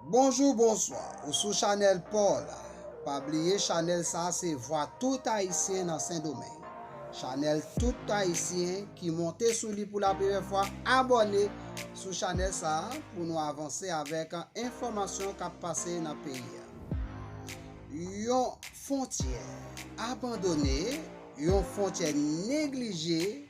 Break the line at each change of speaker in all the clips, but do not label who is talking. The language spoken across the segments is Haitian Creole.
Bonjou bonswa ou sou chanèl paw la pa bliye chanèl sa se vwa tout ayisyen nan sendomeng chanèl tout ayisyen ki monte sou li pou la premyè fwa abòne sou chanèl sa pou nou avanse avèk enfòmasyon kap pase nan peyi a yon fontyè abandone yon fontyè neglije.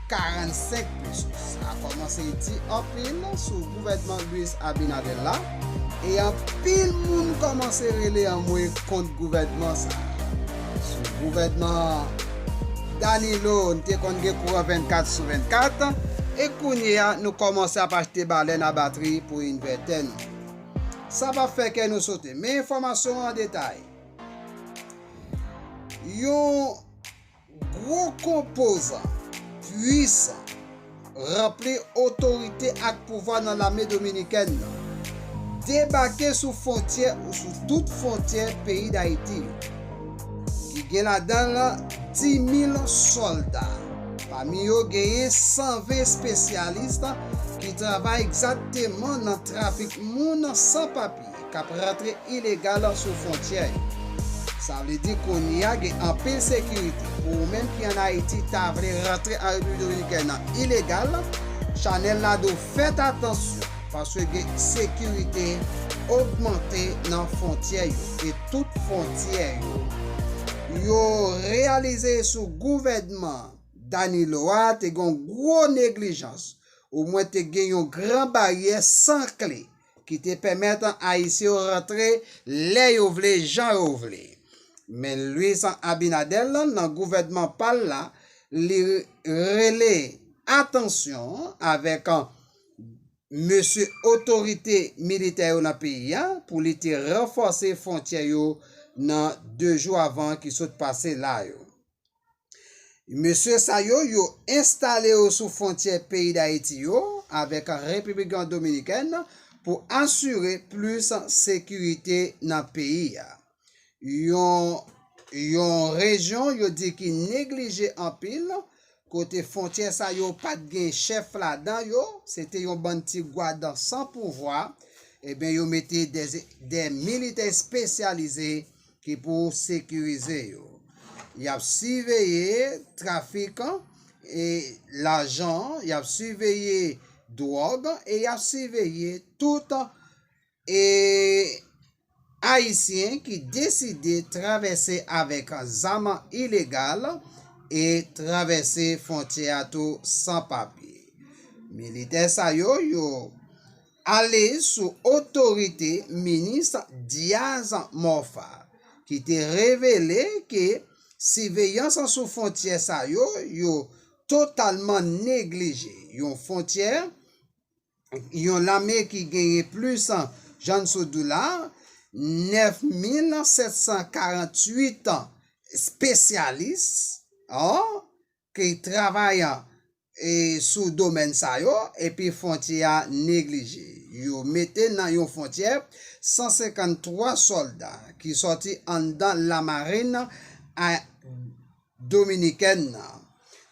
45 pesos sa komanse di anpil sou gouvènman Luis Abinader la e anpil moun komanse rele anmwe kont gouvènman sa. Sou gouvènman Danilo n te konn gen kouran 24 sou 24 e kounye a nou komanse ap achte balèn a batri pou invètè nou. Sa pap fè kè nou sote men enfòmasyon an detay. Yon. Gwo konpozan, pwisan, ranpli otorite ak pouvwa nan lame dominikèn nan, debake sou fontyè ou sou tout fontyè peyi Dayiti yo, ki gen ladan l 10,000 sòlda, pami yo genyen 120 espesyalis ki travay egzakteman nan trafik moun san papye. k ap rantre ilegal sou fwontyè yo. Sa vle di kounye a gen anpil sekirite. Pou ou menm ki an Ayiti ta vle rantre an Repiblik Dominikèn an ilegal, Chanel la di w fèt atansyon paske gen sekirite ogmante nan fwontyè yo e tout fwontyè yo. Yo reyalize sou gouvènman Danilo a te gen yon gwo neglijans, omwen te gen yon gran baryè san kle. ki te pèmèt Ayisyen yo rantre lè yo vle, jan yo vle. Men Luis Abinader lan nan gouvènman pa l la, li rele atansyon avèk mesye otorite militè yo nan peyi a pou li te ranfòse fwontyè yo nan 2 jou avan ki sot pase la yo. Mesye sa yo, yo enstale yo sou fwontyè peyi Dayiti yo avèk Repiblik Dominikèn pou asire plis sekirite nan peyi a. Yon yon rejyon yo di ki neglije anpil, kote fwontyè sa yo pa t gen chèf ladan yo, se te yon bann ti gwad san pouvwa, eben yo mete de militè espesyalize ki pou sekirize yo. Y ap siveye trafik e lajan, y ap siveye dwòg e y ap siveye tout e Ayisyen ki deside travèse avèk zam ilegal e travèse fontyè a tou san papye. Militè sa yo, yo. Ale sou otorite minis Diaz Morfa ki te revele ke siveyans sou fontyè sa yo yo totalman neglije yon fontyè yon lame ki genyen plis Jan sou doula 9748 spesyalis an ki travay sou domèn sa yo epi fwontyè a neglije. Yo mete nan yon fwontyè 153 sòlda ki sòti anndan lamarin dominikèn nan.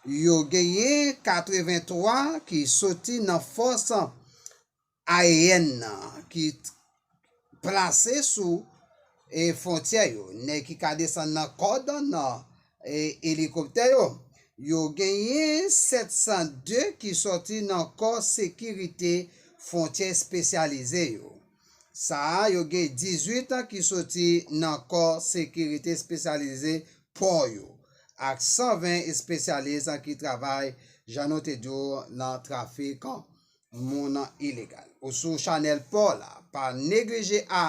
Yo genyen 83 ki soti nan fòs aeyèn nan ki plase sou e fontyè yo, nèg ki ka desann nan kòd nan e elikoptè yo, yo genyen 702 ki sòti nan kò sekirite fontyè espesyalize yo. Sa a yo gen 18 ki soti nan kò sekirite espesyalize pò yo, ak 120 espesyalis ki travay jan nou te di w nan trafik Moun an ilegal. Ou sou chanel paw la pa neglije a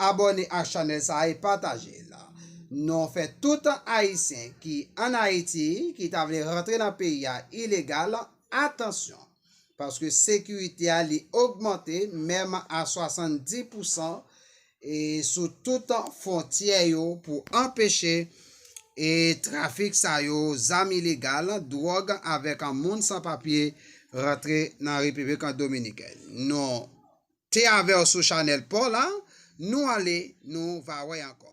abone ak chanel sa e pataje l. Non fè tout ayisyen ki an ayiti ki ta vle rantre nan peyi a ilegal atansyon paske sekirite a li ogmante menm a 70 pousan e sou tout fontyè yo pou anpeche e trafik sa yo zam ilegal, dwòg avèk moun san papye rantre nan Repiblik Dominikèn. Nou te avèw sou chanèl paw la, nou ale nou va wè ankò.